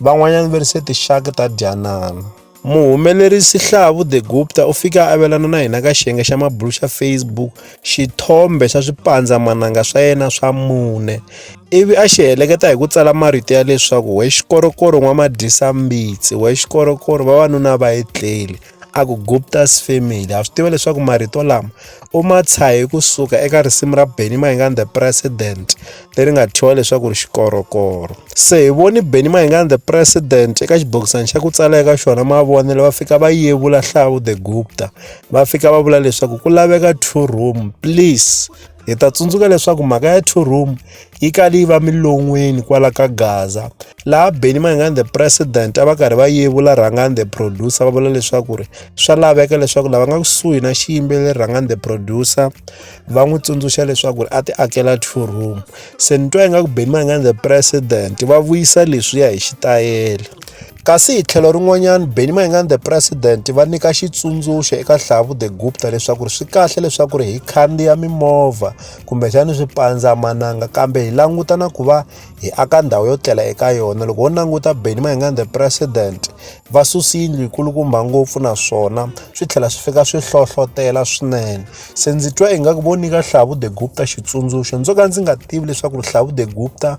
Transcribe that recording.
Van'wanyana va ri se tixaka ta dyanana. Muhumelerisi Hlavu de Gupta u fike a avelana na hina ka xiyenge xa mabulu xa Facebook xithombe xa swipandzamananga swa yena swa mune ivi a xi heleketa hi ku tsala marito ya leswaku we xikorokoro n'wamadyisa-mbitsi we xikorokoro vavanuna va etleli a ku Gupta's family ha swi tiva leswaku marito lama u ma tshahe kusuka eka risimu ra Benny Mayengani the president leri nga thyiwa leswaku ri xikorokoro se hi voni Benny Mayengani the president eka xibokisana xa ku tsala eka xona mavonelo va fika va yevula hlavu the Gupta va fika va vula leswaku ku laveka two room please Hi ta tsundzuka leswaku mhaka ya two room yi kale yi va milon'weni kwala ka Gaza laha Benny Mayengani the president a va karhi va yevula Rhangani the producer va vula leswaku ri swa laveka leswaku lava nga kusuhi na xiyimbeleri Rhangani the producer va n'wi tsundzuxa leswaku ri a ti akela two room se ni twa ingaku Benny Mayengani the president va vuyisa leswiya hi xitayele Kasi hi tlhelo rin'wanyana, Benny Mayengani the President va nyika xitsundzuxo eka Hlavu the Gupta leswaku swi kahle leswaku hi khandziya mimovha kumbexana swipandzamananga kambe hi languta na ku va hi aka ndhawu yo tlela eka yona. Loko ho languta Benny Mayengani the President va susi yindlu yikulukumba ngopfu naswona swi tlhela swi fika swi hlohlotela swinene. Se ndzi twa ingaku vo nyika Hlavu the Gupta xitsundzuxo ndzo ka ndzi nga tivi leswaku Hlavu the Gupta